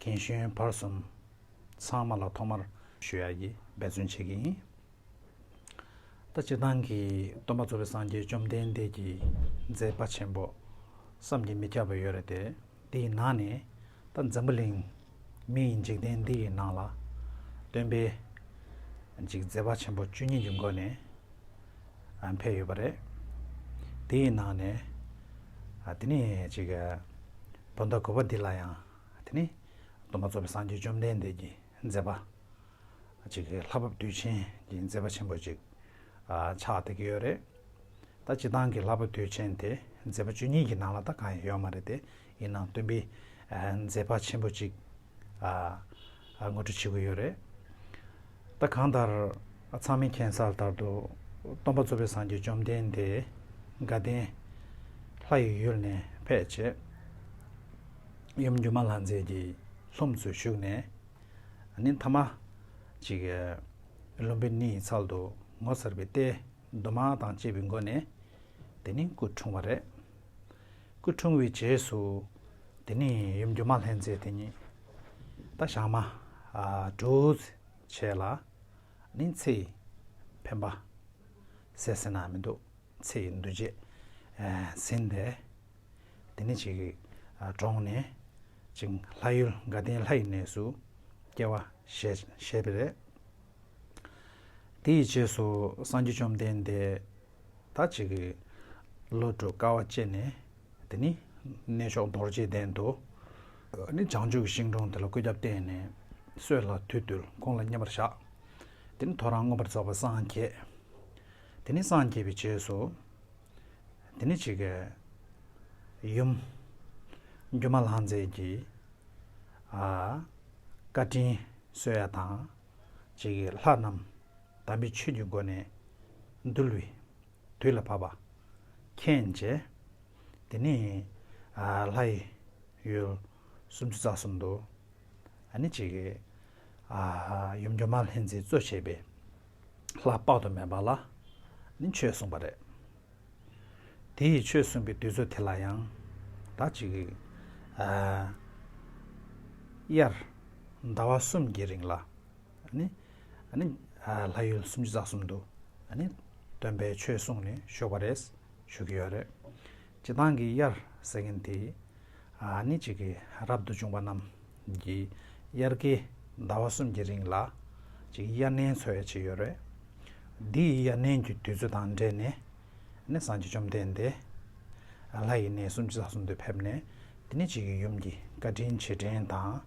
གན་གཞོན་བར་གསུམ་ཚང་མ་ལ་ཐོག་མར་ཞུ་ཡག་གིས་འབད་བརྩོན་བྱེད་ཀྱི་ཡིན། ད་སྤྱིར་བཏང་གི་སྟོན་པ་གཙོ་བོ་སངས་རྒྱས་བཅོམ་ལྡན་འདས་ཀྱི་མཛད་དཔའ་ཆེན་པོ་བསམ་གྱིས་མི་ཁྱབ་པ་ཡོད་རེད་དེ་དེའི་ནང་ནས་ད་འཛམ་བུ་གླིང་མི་ཡི་འཇིག་རྟེན་འདི་ཡི་ནང་ལ་སྟོན་པའི་འཇིག་མཛད་དཔའ་ཆེན་པོ་བཅུ་གཉིས་ཀྱི་མགོ་ནས་འཕེལ་ཡོད་པ་རེད། དེའི་ནང་ནས་དེ་ནས་ཅིག་བོད་ཟླ་དགུ་བ་འདི་ལ་ཡང་དེ་ནི་སྡོམ་པ་རྫོགས་པའི་སངས་རྒྱས་བཅོམ་ལྡན་འདས་ཀྱི་མཛད་པ་ཅིག་ལྷ་བབས་དུས་ཆེན་གྱི་མཛད་པ་ཆེན་པོ་ཅིག་ཕྱག་བཏེག་གི་ཡོད་རེད། ད་སྤྱི་བཏང་གི་ལྷ་བབས་དུས་ཆེན་དེ་མཛད་པ་བཅུ་གཉིས་ཀྱི་ནང་ལ་ད་གང་ཡང་ཡོད་མ་རེད་དེ་ཡིན་ནའང་སྟོན་པའི་མཛད་པ་ཆེན་པོ་ཅིག་ངོ་སྤྲོད་བྱེད་དགོས་ཡོད་རེད། ད་གང་ལྟར་ཚང་མས་མཁྱེན་གསལ་ལྟར་དུ་སྟོན་པ་གཙོ་བོས་སངས་རྒྱས་བཅོམ་ལྡན་འདས་དགའ་ལྡན་ལྷ་ཡི་ཡུལ་ནས་ཕེབས་རྗེས། ཡུམ་སྒྱུ་མ་ལྷ་མཛེས་ཀྱི་ལྷུམས་སུ་བཞུགས་ནས་ནི་མཐའ་མ་ཅིག། ལུམ་བི་ནི་ཡི་ཚལ་དུ་ངོ་མཚར་བའི་ལྟས་དུ་མ་དང་བཅས་པའི་སྒོ་ནས་དེ་ནི་སྐུ་འཁྲུངས་བ་རེད། སྐུ་འཁྲུངས་བའི་རྗེས་སུ། དེ་ནས་ཡུམ་སྒྱུ་མ་ལྷན་མཛེས་དེ་ཉིད། བདག་ཞགས་མ། བྲུས། བྱས་ལ། ནི་ཚེ། འཕེན་པ། ཟས་ཟེར་ན་མི་འདུག་ཚེ་ཡི་འདུ་བྱེད། ཟིན་པས། དེ་ནི་ཅིག། དྲོངས་ནས། ཅིང་ལྷ་ཡུལ་དགའ་ལྡན་ལྷ་ཡི་གནས་སུ། སྐྱེ་བ། བཞེས་པས། དེ་ཡི་རྗེས་སུ་སངས་རྒྱས་བཅོམ་ལྡན་འདས། ད་ཅིག་གིས། བློ་གྲོས་དཀའ་བ་སྤྱད་ནས། དེ་ནི། གནས་མཆོག་རྡོ་རྗེའི་གདན་དུ། ནི་བྱང་ཆུབ་ཀྱི་ཤིང་དྲུང་དེ་ལ་བཀོད་ཁྱབ་བསྟན་ནས། སྲོད་ལ་དུས་བཏུལ་ཁོང་ལ་མཉེས་པར་བྱ། དེ་ནི་ཐོ་རངས་མངོན་པར་རྫོགས་པར་སངས་རྒྱས། དེ་ནི་སངས་རྒྱས་པའི་རྗེས་སུ། དེ་ནི་ཅིག། ཡུམ། སྒྱུ་མ་ལྷང་མཛེས་ཀྱི། བཀའ་དྲིན་གསོལ་ཡ་དང། ཅིག། ལྷ་རྣམས། དམ་པའི་ཆོས་ཀྱི་སྒོ་ནས། འདུལ་བའི་དུས་ལ་བབ་པ། མཁྱེན་བྱས། དེ་ནས། ལྷ་ཡི། ཡུལ། སུམ་ཅུ་རྩ་གསུམ་དུ། ནི་གཅིག། ཡུམ་སྒྱུ་མ་ལྷན་ཅིག་སྩོལ་བྱེད་པའི། ལྷ་དཔག་ཏུ་མེད་པ་ལ། ནི་ཆོས་གསུངས་པ་རེད། དེ་ཡི་ཆོས་གསུངས་པའི་དུས་ཚོད་དེ་ལ་ཡང། དག་ཅིག། དབྱར། ཟླ་བ་གསུམ་གྱི་རིང་ལ། ནི། ལྷ་ཡུལ་སུམ་ཅུ་རྩ་གསུམ་དུ་སྟོན་པའི་ཆོས་གསུངས་ནས་ཞོགས་པ་རེད་ཞུ་གི་ཡོད་རེད། སྤྱི་བཏང་གི་དབྱར་ཟེར་མཁན་དེ་ནི་གཅིག་གི་རབ་ཏུ་བྱུང་བ་རྣམས་ཀྱི་དབྱར་ཀའི་ཟླ་བ་གསུམ་གྱི་རིང་ལ་གཅིག་དབྱར་གནས་འཚོལ་བའི་ཆེད་ཡོད་རེད། འདི་ཡི་དབྱར་གནས་ཀྱི་དུས་ཚོད་དང་འབྲེལ་ནས་ནི་སངས་རྒྱས་བཅོམ་ལྡན་འདས་ལྷ་ཡི་གནས་སུམ་ཅུ་རྩ་གསུམ་དུ་ཕེབས་ནས་དེ་ནས་གཅིག་གི་ཡུམ་གྱི་བཀའ་དྲིན་རྗེས་དྲན་དང།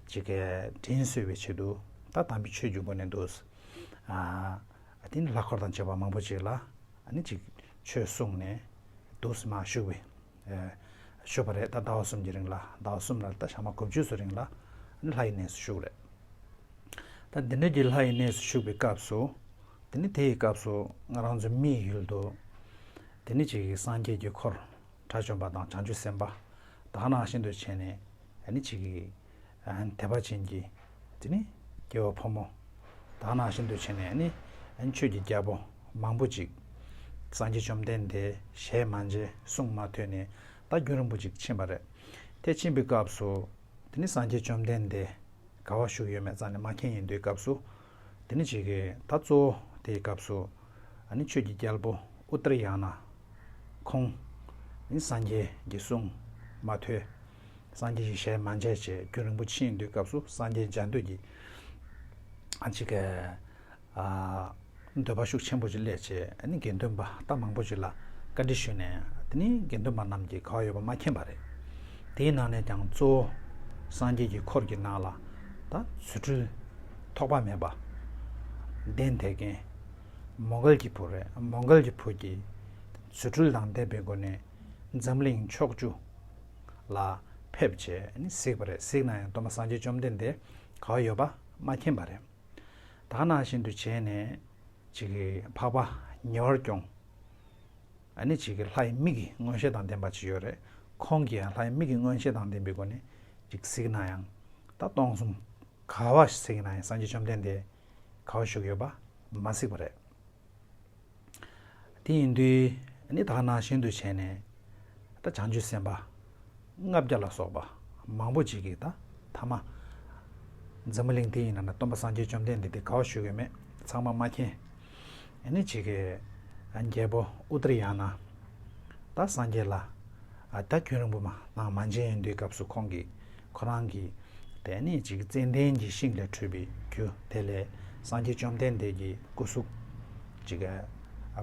ཅིག་གི་དྲིན་གསོས་པའི་ཆེད་དུ་ད་དམ་པའི་ཆོས་ཀྱི་སྒོ་ནས་འདུག། དེ་ནས་ལྷ་འཁོར་དང་བཅས་པ་མང་པོ་ཅིག་ལ་ཅིག་ཆོས་གསུངས་ནས་འདུག་སྲིད་མ་བཞུགས་པའི་ཤོད་པ་རེད་ད་ཟླ་བ་གསུམ་གྱི་རིང་ལ་ཟླ་བ་གསུམ་ལ་ད་ཞག་མ་གོ་བཅུ་ཚོ་རིང་ལ་ལྷ་ཡི་གནས་སུ་བཞུགས་རེད། ད་འདི་འདྲ་གྱི་ལྷ་ཡི་གནས་སུ་བཞུགས་པའི་སྐབས་སུ་དེ་ནས་དེ་ཡི་སྐབས་སུ་ང་རང་ཚོ་མི་ཡི་ཡུལ་དུ་དེ་ནས་ཅིག་སངས་རྒྱས་ཀྱི་འཁོར་དགྲ་བཅོམ་པ་དང་བྱང་ཆུབ་སེམས་དཔའ་དག་ནང་བཞིན་དུ་བྱས་ནས་ནི་བྱེད་ཀྱི། དད་པ་ཅན་གྱི་དེ་ནི་སྐྱེ་བོ་ཕོ་མོ་དག་ནང་བཞིན་དུ་བྱས་ནས་ནི་ཆོས་ཀྱི་རྒྱལ་པོ་མང་པོ་ཅིག། སངས་རྒྱས་བཅོམ་ལྡན་འདས་ཞལ་མ་མཇལ་གསུང་མ་ཐོས་ནས་ད་རྒྱུན་རིང་པོ་ཅིག་ཕྱིན་པ་རེད་དེ་ཕྱིན་པའི་སྐབས་སུ་དེ་ནི་སངས་རྒྱས་བཅོམ་ལྡན་འདས་དགའ་བ་ཞུགས་ཡོད་མེད་ཙམ་ནས་མ་མཁྱེན་ཡིན་དུས་སྐབས་སུ། དེ་ནི་བྱེད་ཀྱི་ད་གཙོ་བོ་དེའི་སྐབས་སུ་ནི་ཆོས་ཀྱི་རྒྱལ་པོ་ཨུཏྤལ་ཡང་ན་ཁོང་ནི་སངས་རྒྱས་ཀྱི་གསུང་མ་ཐོས་སངས་རྒྱས་ཀྱི་ཞལ་མ་མཇལ་བྱས་རྒྱུན་རིན་པོ་ཆེའི་འདུལ་སྐབས་སུ་སངས་རྒྱས་མཇལ་འདོད་ཀྱི་འདོད་པ་ཤུགས་ཆེན་པོ་ཅིག་སླད་ཆེད་ནི་དགེ་འདུན་པ་རྟ་མང་པོ་ཅིག་ལ་བཀའ་འདྲི་ཞུས་ནས་དེ་ནི་དགེ་འདུན་པ་རྣམས་ཀྱིས་ག་བ་ཡོད་པ་མ་མཁྱེན་པ་རེད། དེའི་ནང་ནས་ཀྱང་གཙོ་བོ་སངས་རྒྱས་ཀྱི་འཁོར་གྱི་ནང་ལ་ད་རྫུ་འཕྲུལ། ཐོགས་པ་མེད་པ། ལྡན་དེ་རྒན། མོ་འགལ་གྱི་བུ་རེད་མོ་འགལ་གྱི་བུ་གྱིས། ཚུལ་འཁྲུལ་ལྡང་འདས་པའི་སྒོ་ནས། འཛམ་གླིང་ཕྱོགས་བཅུ། ལ། ཕེབས། བྱས་ནི་གཟིགས་པ་རེད་གཟིགས་ན་ཡང་སྡོམ་པ་སངས་རྒྱས་བཅོམ་ལྡན་འདས་ག་བ་ཡོད་པ་མ་མཁྱེན་པ་རེད། དག་སྣང་བཞིན་དུ་བྱས་ནས། བྱིས་ཀྱི་འཕགས་པ་ཉེ་བར་སྐྱོང། ནི་བྱིས་ཀྱི་ལྷའི་མིག་གི་མངོན་ཤེས་དང་ལྡན་པ་ཅིག་ཡོད་རེད་ཁོང་གིས་ཡང་ལྷའི་མིག་གི་མངོན་ཤེས་དང་ལྡན་པའི་སྒོ་ནས་ཅིག་གཟིགས་ན་ཡང། ད་སྟོང་གསུམ། ག་བ་ཞིག་གསེར་གྱི་ནང་ཡང་སངས་རྒྱས་བཅོམ་ལྡན་འདས་ག་བ་བཞུགས་ཡོད་པ་མ་གཟིགས་པ་རེད། དེ་ཡིན་དུས་ནི་དག་སྣང་ཤིན་ཏུ་ཆེ་ནས། ད་བྱང་ཆུབ་སེམས་དཔའ་ལྔ་བརྒྱ་ལ་སོགས་པ་མང་པོ་ཅིག་གིས་ད་ཐ་མ། འཛམ་བུ་གླིང་འདི་ཡི་ནང་ན་སྟོན་པ་སངས་རྒྱས་བཅོམ་ལྡན་འདས་དེ་ག་བ་བཞུགས་ཡོད་མེད་ཚང་མ་མ་མཁྱེན། ཡེ་ནས་བྱེད་ཀྱི། རྒྱལ་པོ་ཨུ་ཏར་ཡང་ན། ད་སངས་རྒྱས་ལ། ད་ཁྱོད་རིང་པོ་མ་གནང་མ་མཇལ་ཡིན་དུས་སྐབས་སུ་ཁོང་གིས་ཁོ་རང་གི། དེ་ནས་ཅིག་ཙན་དན་གྱི་ཤིང་ལས་འཕྲོས་པའི་རྒྱུ་དེ་ལས་སངས་རྒྱས་བཅོམ་ལྡན་འདས་ཀྱི་སྐུ་གཟུགས། ཅིག།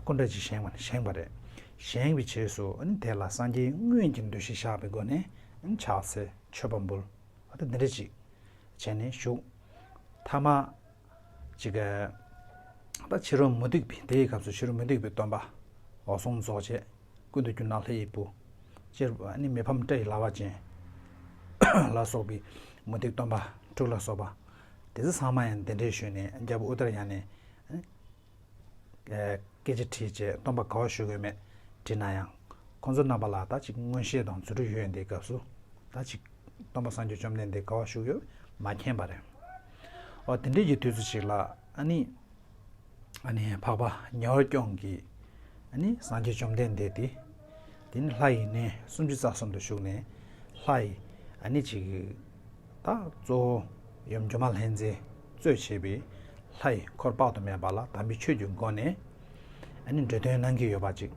སྐུ་འདྲ་ཅིག་བཞེངས་པ་རེད། བཞེངས་པའི་རྗེས་སུ་དེ་ལ་སངས་རྒྱས་དངོས་ཀྱི་འདུ་ཤེས་བཞག་པའི་སྒོ་ནས་ཕྱག་འཚལ་མཆོད་པ་འབུལ། ད་འདི་འདྲ་ཅིག་བྱས་ནས་བཞུགས། ཐ་མ། ཅིག། ད་ཕྱི་རོལ་མུ་སྟེགས་པའི་དེ་ཡི་སྐབས་སུ་ཕྱི་རོལ་མུ་སྟེགས་པའི་སྟོན་པ། འོད་སྲུང་རྫོགས་བྱེད། ཀུན་ཏུ་རྒྱུ་ནག་ལྷའི་དབྱིག་བུ། སྤྱིར་ནི་མི་ཕམ་སྐྲ་ཡི་ལྭ་བ་ཅན། ལ་སོགས་པའི་མུ་སྟེགས་སྟོན་པ་དྲུག་ལ་སོགས་པ། དེ་ཚེ་ཚང་མ་ཡང་དེ་འདྲའི་ཞོན་ནས་རྒྱལ་པོ་ཨུཏྤལ་བཞག་ནས། སྐད་ཆ་དྲིས་རྗེས་སྟོང་པ་དགའ་བ་ཞུ་དགོས་མེད་དྲིས་ན་ཡང། ཁོང་ཚོ་རྣམ་པ་ལ་ད་ཅིག་མངོན་ཤེས་དང་རྫུ་འཕྲུལ་ཡོད་འདིའི་སྐབས་སུ། ད་ཅིག་སྟོང་པ་སངས་རྒྱས་བཅོམ་ལྡན་འདས་དགའ་བ་ཞུ་ཡོད་མ་མཁྱེན་པ་རེད། འོ་དེ་འདྲས་ཀྱི་དུས་ཚོད་ཅིག་ལ་ཨཱ་ནི། ཨཱ་ནི་འཕགས་པ་གཉོར་སྐྱོང་གིས། ཨཱ་ནི་སངས་རྒྱས་བཅོམ་ལྡན་འདས་དེ། དེ་ནི་ལྷ་ཡི་གནས་སུམ་ཅུ་རྩ་གསུམ་དུ་བཞུགས་ནས། ལྷ་ཡི། ཨཱ་ནི་ཅིག། དང་གཙོ་བོ་ཡུམ་སྒྱུ་མ་ལྷའི་མཛད་གཙོས་བྱས་པའི་ལྷ་ཡི་འཁོར་དཔག་ཏུ་མེད་པ་ལ་དམ་པའི་ཆོས་ཀྱི་སྒོ་ནས་འབྲུ་དོན་གནང་གི་ཡོད་པ་ཅིག་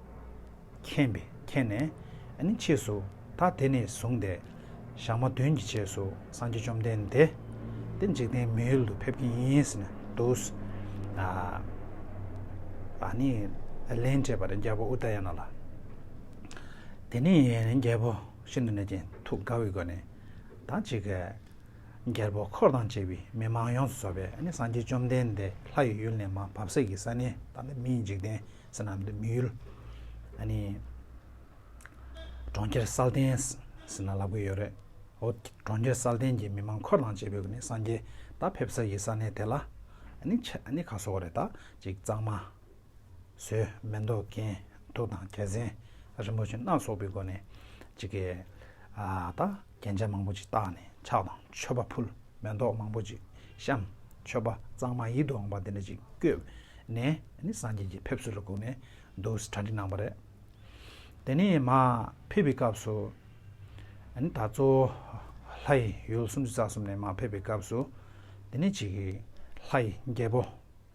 མཁྱེན་པས་མཁྱེན་ནས་ཕྱིས་སུ་ད་དེ་ནས་བཟུང་སྟེ་ཞག་མ་བདུན་གྱི་རྗེས་སུ་སངས་རྒྱས་བཅོམ་ལྡན་འདས་དེ་འཇིག་རྟེན་མི་ཡུལ་དུ་ཕེབས་ཀྱི་ཡིན་ཟེར་ནས་འདུག། ད་ནི་ལན་སྤྲད་པར་རྒྱལ་པོ་ཨུཏྤལ་ཡང་ན་ལ། དེ་ནས་རྒྱལ་པོ་ཤིན་ཏུ་ནས་ཀྱིན་ཐུགས་དགའ་བའི་སྒོ་ནས། དང་གཅིག། རྒྱལ་པོ་འཁོར་དང་བཅས་པའི་མི་མང་ཡོངས་སུ་ཚོགས་པས་སངས་རྒྱས་བཅོམ་ལྡན་འདས་ལྷ་ཡི་ཡུལ་ནས་མ་བབས་སྲས་ཀྱི་ས་ནི་དང་པོ་མིའི་འཇིག་རྟེན་ས་རྣམས་ཏེ་མི་ཡུལ། གྲོང་ཁྱེར་སཱལ་ཏན། ཟེར་ན་ལབ་གི་ཡོད་རེད། ཨོ། གྲོང་ཁྱེར་སཱལ་ཏན་གྱི་མི་མང་འཁོར་དང་བཅས་པས་སངས་རྒྱས་ད་ཕེབས་སྲས་ཀྱི་ས་ནི་དེ་ལ། ཁ་གསོ་བ་རེད་ད་གཅིག་གཙང་མ། ཟོས། མེ་མདོག་གྱེན། དུག་དང་རྒྱལ་མཚན། རིན་པོ་ཆེ་སྣ་ཚོགས་པའི་སྒོ་ནས། ཇི་སྐད། ད། རྒྱན་ཆ་མང་པོ་ཅིག་བཏགས་ནས་ཕྱག་དང་མཆོད་པ་ཕུལ། མེ་མདོག་མང་པོ་ཅིག་བཤམས། མཆོད་པ་གཙང་མ་ཡིད་དུ་འོང་བ་དེ་འདྲ་ཅིག་བཀོད། ནས། ནི་སངས་རྒྱས་ཀྱི་ཕེབས་བསུ་ལ་བསྒུགས་ནས། འདུག་གྲ་འགྲིག་གནང་བ་རེད། དེ་ནས། མ། ཕེབས་པའི་སྐབས་སུ། ནི་ད། གཙོ། བོ། ལྷ་ཡི། ཡུལ་སུམ་ཅུ་རྩ་གསུམ་ནས་མ་ཕེབས་པའི་སྐབས་སུ། དེ་ནས་ཇི་སྐད། ལྷ་ཡི། རྒྱལ་པོ།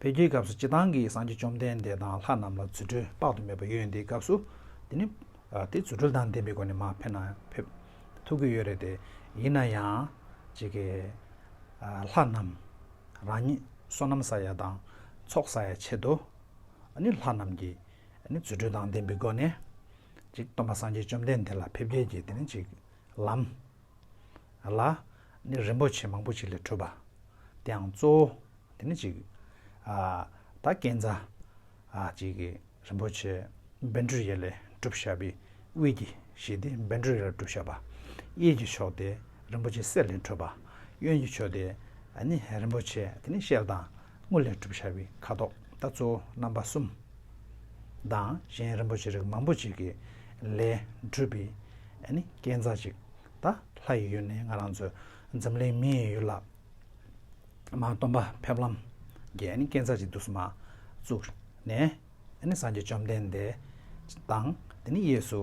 འཕེལ་རྒྱས་སྐབས་སུ་སྤྱི་བཏང་གིས་སངས་རྒྱས་བཅོམ་ལྡན་འདས་དང་ལྷ་རྣམས་ལ་རྫུ་འཕྲུལ་དཔག་ཏུ་མེད་པ་ཡོད་འདིའི་སྐབས་སུ། དེ་ནི། དེ་རྫུ་འཕྲུལ་དང་ལྡན་པའི་སྒོ་ནས་མ་ཕེབས་ན་ཕེབས། ཐུག་གི་ཡོད་རེད་དེ། ཡིན་ན་ཡང། ཇི་སྐད། ལྷ་རྣམས། རང་ཉིད། བསོད་ནམས་ས་ཡ་དང། ཚོགས་ས་ཡ་ཆེད་དུ། ནི་ལྷ་རྣམས་ཀྱིས། ནི་རྫུ་འཕྲུལ་དང་ལྡན་པའི་སྒོ་ནས། ཅིག་སྟོན་པ་སངས་རྒྱས་བཅོམ་ལྡན་འདས་ལ་ཕེབས་སྐྱེལ་གྱི་དེ་ནི་ཅིག། ལམ། ལ། ནི་རིན་པོ་ཆེ་མང་པོ་ཅིག་ལས་འཕྲོས་པ། དེའང་གཙོ་བོ། དེ་ནི་ཅིག། ད་གན་རྫ། ཅིག། རིན་པོ་ཆེ། བན་དྲུ་ཡལ་ལས་བསྒྲུབ་བྱ་བའི་དབུས་ཀྱི་ཞེས་ཏེ་བན་དྲུ་ཡལ་ལས་བསྒྲུབ་བྱ་བ། གཡས་ཀྱི་ཕྱོགས་ཏེ་རིན་པོ་ཆེ་གསེར་ལས་འཕྲོས་པ། གཡོན་གྱི་ཕྱོགས་ཏེ། ནི་རིན་པོ་ཆེ་དེ་ནི་ཤེལ་དང་དངུལ་ལས་བསྒྲུབ་བྱ་བའི་ཁ་དོག་ད་གཙོ་བོ་རྣམ་པ་གསུམ། དང་གཞན་རིན་པོ་ཆེ་རིགས་མང་པོ་ཅིག་གི་ལས་བསྒྲུབས་པའི། ཨ་ནི་སྐལ་མཚར་ཅིག་ད་ལྷ་ཡི་ཡུལ་ནས་ང་རང་ཚོའི་འཛམ་གླིང་མི་ཡི་ཡུལ་ལ་མ་སྟོན་པ་ཕེབས་ལམ་གྱི་ཨ་ནི་སྐལ་མཚར་ཅིག་དུ་སུ་མ་བཙུགས་ནས་ཨ་ནི་སངས་རྒྱས་བཅོམ་ལྡན་འདས་དང་དེ་ནི་གཡས་སུ་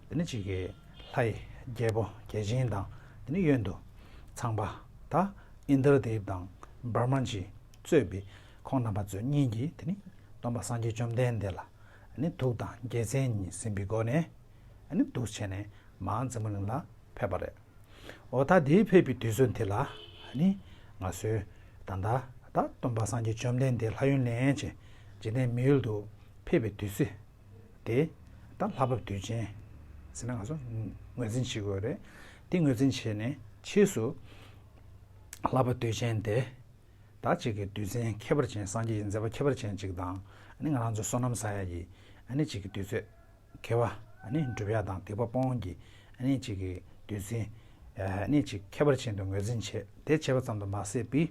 དེ་ནི་གཅིག་གི་ལྷ་ཡི་རྒྱལ་པོ་རྒྱལ་ཆེན་དང་དེ་ནི་གཡོན་དུ་ཚངས་པ་ད་ཨིནྡྲ་དེབ་དང་བཱི་མཱན་གྱིས་གཙོས་པའི་ཁོང་རྣམ་པ་ཚོའི་གཉིས་ཀྱིས་དེ་ནི་སྟོན་པ་སངས་རྒྱས་བཅོམ་ལྡན་འདས་ལ་ཨ་ནི་ཐུགས་དང་རྒྱལ་མཚན་གཉིས་ཟིན་པའི་སྒོ་ནས་ནི་འདུ་བྱེད་ནི་མའང་རྫི་མོ་གླིང་ལ་ཕེབས་པ་རེད། འོ་ད་དེའི་ཕེབས་པའི་དུས་ཚོད་འདི་ལ་ནི་ང་གསོན། ད་ལྟ་ད་སྟོན་པ་སངས་རྒྱས་བཅོམ་ལྡན་འདས་ལྷ་ཡུན་ལེན་ཅིང་འཇིག་རྟེན་མི་ཡུལ་དུ་ཕེབས་པའི་དུས་ཚོད་དེ། ད་ལྷ་བབས་དུས་ཆེན། ཟེར་ན་ང་ཚོ་ངོས་འཛིན་བྱེད་དགོས་རེད། དེ་ངོས་འཛིན་བྱས་ནས་ཕྱིས་སུ། ལྷ་བབས་དུས་ཆེན་དེ། ད་ཅིག་གི་དུས་ཆེན་ཁྱད་པར་ཅན་སངས་རྒྱས་ཀྱི་མཛད་པ་ཁྱད་པར་ཅན་ཅིག་དང། ང་རང་ཚོ་སོ་ནམ་ཟ་ཡ་ཡི་ནི་ཅིག་གི་དུས་ཚོད། མཁས་པ། འགྲུབ་ཡ་དང་སྡིག་པ་སྤོང་གི། གཅིག་གིས་བདུད་རྩི། གཅིག་ཁྱད་པར་ཅན་དུ་ངོས་འཛིན་བྱེད། དེ་བྱས་པ་ཙམ་དུ་མ་ཟད་པའི།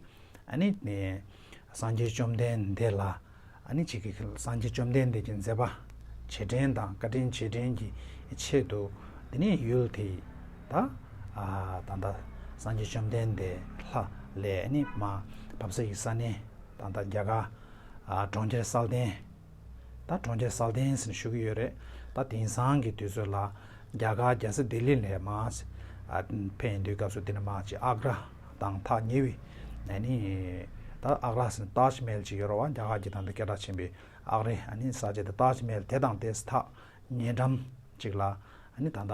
སངས་རྒྱས་བཅོམ་ལྡན་འདས་ལ། གཅིག་གིས་སངས་རྒྱས་བཅོམ་ལྡན་འདས་ཀྱི་མཛད་པ། བྱེད་འབྲེལ་དང་བཀའ་དྲིན་རྗེས་དྲན་གྱི་ཆེད་དུ། དེ་ནས་ཡུལ་དེ་དག། ད་ལྟ་སངས་རྒྱས་བཅོམ་ལྡན་འདས་ལྷ། ལས། བབས་ས་ཡི་ས་གནས། ད་ལྟ་རྒྱ་གར། གྲོང་ཁྱེར་སཱལ་ཏན། ད་གྲོང་ཁྱེར་སཱལ་ཏན་སིན་བཞུགས་ཀྱི་ཡོད་རེད། ད་དེང་སང་གི་དུས་ཚོད་ལ། རྒྱ་གར་རྒྱལ་ས་ལྡི་ལི་ལྷའི་དམག་ཅིག་ཕེབས་འདུག་སྐབས་སུ་དེ་ནི་དམག་ཅིག་ཨག་ར་དང་ཐག་ཉེ་བའི། ནི། ད་ཨག་ར་སིན་ཏཱཇ་མེལ་ཅིག་ཡོད་ར་བ་རྒྱ་གར་གྱི་དང་དུ་སྐད་གྲགས་ཆེན་པོའི་ཨག་རའི་ནི་ས་ཆ་དེ་ཏཱཇ་མེལ་དེ་དང་དེས་ཐག་ཉེ་འགྲམ་ཅིག་ལ། ནི་ད།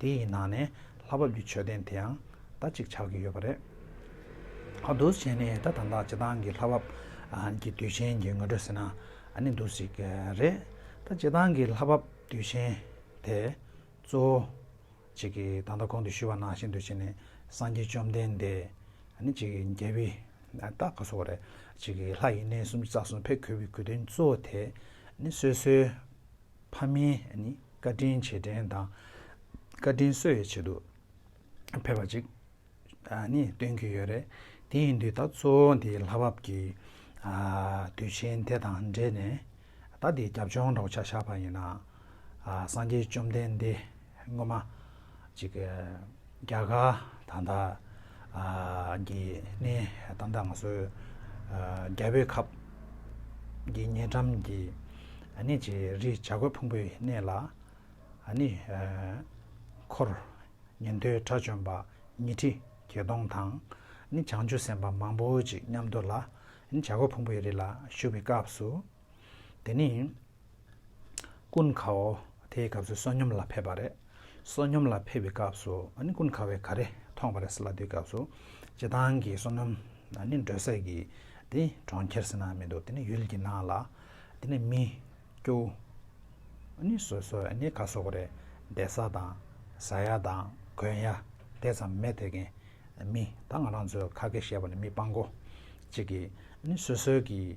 དེ་ཡི་ནང་ནས་ལྷ་བབས་ཀྱི་མཆོད་རྟེན་དེའང་ད་ཅིག་ཆགས་ཀྱི་ཡོད་པ་རེད། འདུ་བྱེད་ནི་ད་དང་ཐག་བྱེད་སྟངས་ཀྱི་ལྷ་བབས་ཀྱི་དུས་ཆེན་གྱི་ངོ་སྤྲོད་ཟེར་ན་འདུ་ཞིག་རེད། ད་བྱེད་སྟངས་ཀྱི་ལྷ་བབས་དུས་ཆེན་དེ་གཙོ་བོ་གཅིག་གིས་ད་ལྟ་གོང་དུ་ཞུས་པ་ནང་བཞིན་འདུ་བྱེད་ནི་སངས་རྒྱས་བཅོམ་ལྡན་འདས་གཅིག་གི་རྒྱལ་པོའི་རྟགས་ག་སོགས་རེད། གཅིག་གིས་ལྷ་ཡི་གནས་གསུམ་རྩ་གསུམ་ཕས་གོས་པའི་གོས་དོན་གཙོ་བོ་དེ་ནི་སོ་སོའི། ཕ་མའི་བཀའ་དྲིན་ཆེ་དྲན་དང་བཀའ་དྲིན་གསོ་བའི་ཆེད་དུ་ཕེབས་པ་ཅིག་སྟོན་གྱི་ཡོད་རེད། དེ་ཡིན་དུས་ད་གཙོ་བོ་འདིའི་ལྷ་བབས་ཀྱི་དུས་ཆེན་དེ་དང་འབྲེལ་ནས་ད་འདིའི་རྒྱབ་ལྗོངས་འདྲ་བོ་ཆ་བཞག་པ་ཡིན་ན། སངས་རྒྱས་བཅོམ་ལྡན་འདས་སྔོན་མ། གཅིག། རྒྱ་གར་དང་ད། གི་ནི་ད་ལྟ་ང་ཚོའི། རྒྱལ་པོའི་ཁབ། གི་ཉེ་འགྲམ་གྱི། ནི་ཅི་རི་བྱ་རྒོད་ཕུང་པོའི་གནས་ལ། ནི། འཁོར། ཉན་ཐོས་དགྲ་བཅོམ་པ། ཉི་ཁྲི་བརྒྱད་སྟོང་དང། ནི་བྱང་ཆུབ་སེམས་དཔའ་མང་པོ་ཅིག་མཉམ་དུ་ལ། ནི་བྱ་རྒོད་ཕུང་པོའི་རི་ལ་བཞུགས་པའི་སྐབས་སུ། དེ་ནི། ཀུན་དགའ་བོ་དེའི་སྐབས་སུ་བསོད་སྙོམས་ལ་ཕེབས་པ་རེད། བསོད་སྙོམས་ལ་ཕེབས་པའི་སྐབས་སུ་ཀུན་དགའ་བོས་ག་རེ་མཐོང་བ་རེད་ཟེར་ལ་དེའི་སྐབས་སུ། ཇེ་ཐང་གི་བསོད་ནམས་ནི་འབྲོས་སྲེག་གི་དེ་གྲོང་ཁྱེར་ཟེར་ན་མི་འདུག་དེ་ནི་ཡུལ་གྱི་ནང་ལ་དེ་ནི་མི་སྐྱོ་ནི་སོ་སོ་ནི་ག་སོགས་རེད་བདེ་ས་དང་ཟ་ཡ་དང་གོན་ཡ་དེ་ཙམ་མེད་དེ་གན་མི་ད་ང་རང་ཚོའི་ཁ་སྐད་བཤད་པ་ནི་མི་དཔང་གོ་གཅིག་གིས་ནི་སོ་སོའི་གི།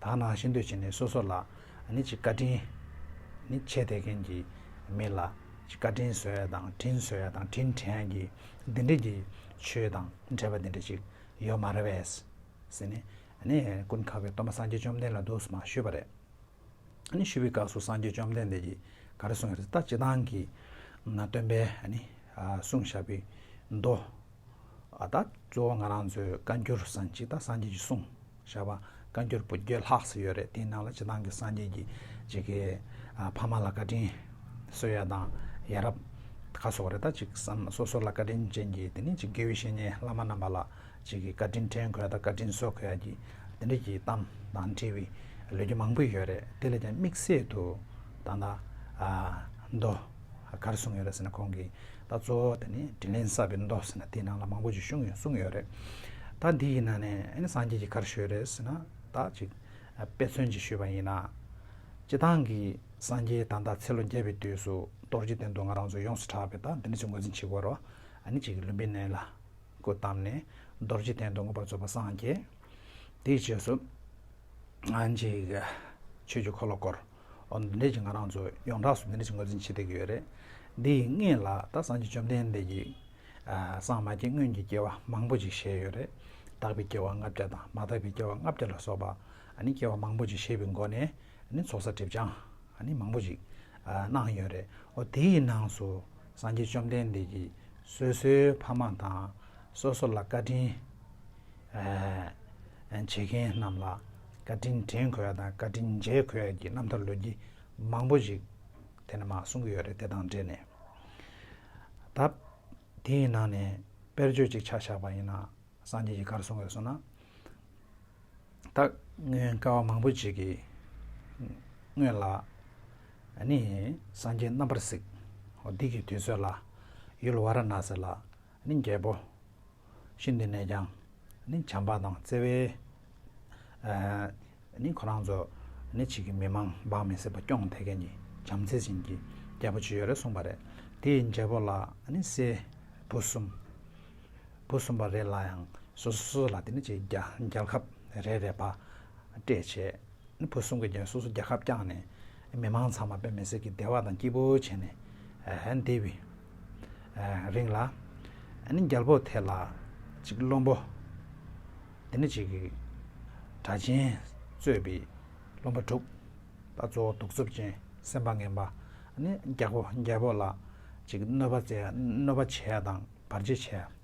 དག་ནའང་ཤེས་འདོད་བྱེད་ནས་སོ་སོ་ལ། ནི་ཅིག་བཀའ་དྲིན། ནི་ཆད་དེ་མཁན་གྱི་མི་ལ། ཅིག་བཀའ་དྲིན་བཟོད་ཡ་དང་དྲིན་བཟོད་ཡ་དང་དྲིན་དྲན་ཡ་གྱི། འདི་འདྲ་གྱི། ཆོས་དང་འབྲེལ་པ་འདི་འདྲ་ཅིག། ཡོད་མ་རེད་བས། ཟེར་ནས། ནི། ཀུན་ཁ་བའི་གཏོར་མ་སངས་རྒྱས་བཅོམ་ལྡན་ལ་བདུགས་སོ་མ་ཞུས་པ་རེད། ནི་ཞུས་པའི་སྐབས་སུ་སངས་རྒྱས་བཅོམ་ལྡན་འདས་ཀྱིས་ག་རེ་གསུངས་ཡོད་རེད་ད་སྤྱི་བཏང་གི། ནང་སྟོན་པས། ནི། གསུངས་བཞག་པའི། མདོ། ཨ་ད། གཙོ་བོ་ང་རང་ཚོའི་བཀའ་འགྱུར་སྲང་གཅིག་དང་སྲང་གཅིག་ཅིག་གསུང། བཞག་པ་བཀའ་འགྱུར་པོད་བརྒྱད་ལྷག་ཙམ་ཡོད་རེད་དེའི་ནང་ལ་སྤྱི་བཏང་གི་སངས་རྒྱས་ཀྱི་བྱེས་ཀྱི་ཕ་མ་ལ་བཀའ་དྲིན། བསོད་ཡ་དང་ཡ་རབ། ཁ་སོགས་རེད་ད་གཅིག་བསམ་སོ་སོ་ལ་བཀའ་དྲིན་ཅན་གྱི་དེ་ནས་གཅིག་དགེ་བའི་བཤེས་གཉེན་བླ་མ་རྣམ་པ་ལ་གཅིག་གི་བཀའ་དྲིན་དྲན་དགོས་ད་བཀའ་དྲིན་གསོ་དགོས་ཡ་གྱི་དེ་འདྲ་གྱི་གཏམ་དང་འབྲེལ་བའི་ལོ་རྒྱུས་མང་པོ་ཡོད་རེད་དེ་ལས་ཀྱང་དམིགས་བསལ་དུ་ད་ད། མདོ། གར་གསུངས་ཡོད་རེད་ཟེར་ན་ཁོང་གིས་ད་གཙོ་བོ་དེ་ནི་དྲིན་ལན་བསབ་པའི་མདོ་ཟེར་ན་དེའི་ནང་ལ་མང་པོ་ཅིག་གཞུང་ཡོད་གསུངས་ཡོད་རེད། ད་འདི་ཡི་ནང་ནས་ཨ་ནི་སངས་རྒྱས་ཀྱི་གར་ཞུས་རེད་ཟེར་ན་ད་ཅིག་དཔེ་མཚོན་གྱིས་ཞུས་པ་ཡིན་ན། སྤྱི་བཏང་གི་སངས་རྒྱས་ད་ལྟ་ཚེ་ལོ་བརྒྱད་པའི་དུས་སུ་གཏོར་རྒྱུའི་དོན་དུ་ང་རང་ཚོ་ཡོངས་སུ་གྲགས་པས་ད་འདི་འདྲ་ཅིག་ངོས་འཛིན་བྱེད་དགོས་རོགས་ཨ་ནི་ཅིག་ལུས་འབིན་ནས་ལ་སྐུ་བལྟམས་ནས་གཏོར་རྒྱུའི་དོན་དུ་ངོ་བར་རྫོགས་པ་སངས་རྒྱས་དེའི་རྗེས་སུ་ཨ་ནི་ཅིག་ཆོས་ཀྱི་འཁོར་ལོ་བསྐོར། འོ་ན་འདས་ཀྱི་ང་རང་ཚོ་ཡོངས་གྲགས་སུ་འདི་འདྲ་ཞིག་ངོས་འཛིན་བྱེད་བསྡད་ཀྱི་ཡོད་རེད། འདི་ཡི་སྔས་ལ་ད་སངས་རྒྱས་བཅོམ་ལྡན་འདས་ཀྱིས། སངས་མ་རྒྱས་སྔོན་གྱི་སྐྱེ་བ་མང་པོ་ཅིག་བཞེས་ཡོད་རེད། དག་པའི་སྐྱེ་བ་ལྔ་བརྒྱ་དང་མ་དག་པའི་སྐྱེ་བ་ལྔ་བརྒྱ་ལ་སོགས་པ། སྐྱེ་བ་མང་པོ་ཅིག་བཞེས་པའི་སྒོ་ནས་ཚོགས་བསགས་སྒྲིབ་སྦྱངས་མང་པོ་ཅིག་གནང་ཡོད་རེད། འོ་དེ་ཡི་ནང་སུ་སངས་རྒྱས་བཅོམ་ལྡན་འདས་ཀྱིས་སོ་སོའི་ཕ་མ་དང། སོ་སོ་ལ་བཀའ་དྲིན་བྱེད་མཁན་རྣམས་ལ། བཀའ་དྲིན་དྲན་གོ་ཡ་དང་བཀའ་དྲིན་མཇལ་གོ་ཡ་གྱི་རྣམ་ཐར་ལོན་གྱི་མང་པོ་ཞིག་དེ་ནས་མ་གསུང་གི་ཡོད་རེད་དེ་དང་འབྲེལ་ནས་ད་དེའི་ནང་ནས་དཔེར་བརྗོད་ཅིག་ཆ་བཞག་པ་ཡིན་ན་སངས་རྒྱས་ཀྱི་བཀའ་རུ་སོང་བས་སོ་ན་ད་སྔོན་བཀའ་བ་མང་པོ་ཅིག་གི་སྔོན་ལ་ནི་སངས་རྒྱས་རྣམ་པར་གཟིགས་འོ་འདི་གི་དུས་ཚོད་ལ་ཡུལ་བ་ར་ན་སི་ལ་ནི་རྒྱལ་པོ། ཤིན་ཏུ་ནས་ཀྱང་ནི་བྱམས་པ་དང་བརྩེ་བས། ནི་ཁོ་རང་ཚོ་ནི་ཕྱིས་ཀྱི་མི་མང་འབངས་མི་སྲིད་པ་སྐྱོང་དེ་གས་ནི་བྱམས་བརྩེ་ཅན་གྱི་རྒྱལ་པོ་ཅི་ཡོད་རེ་གསུངས་པ་རེད་དེའི་རྒྱལ་པོ་ལ་ནི་སྲས་བུ་གསུམ། བུ་གསུམ་པ་རེ་ལ་ཡང་སོ་སོ་ལ་དེ་ནི་ཅིག་རྒྱལ་ཁབ་རེ་རེ་བ་སྤྲད་བྱས། བུ་གསུམ་གྱི་རྒྱུན་སོ་སོ་རྒྱལ་ཁབ་བསྐྱངས་ནས་མི་མང་ཚང་མ་བོད་མི་སེར་གྱི་བདེ་བ་དང་སྐྱིད་པོ་བྱས་ནས་འདས་པའི་རིང་ལ། རྒྱལ་པོ་དེ་ལ་གཅིག་བློན་པོ། དེ་ནས་གཅིག་གྲྭ་ཆེན་གཙོས་པའི་བློན་པོ་དྲུག། ད་གཙོ་བོ་གདུག་རྩུབ་ཅན་སེམས་པ་ངན་པ། རྒྱལ་པོ་ལ་གཅིག་གནོད་པ་བྱས་དང་བར་ཆད་བྱས།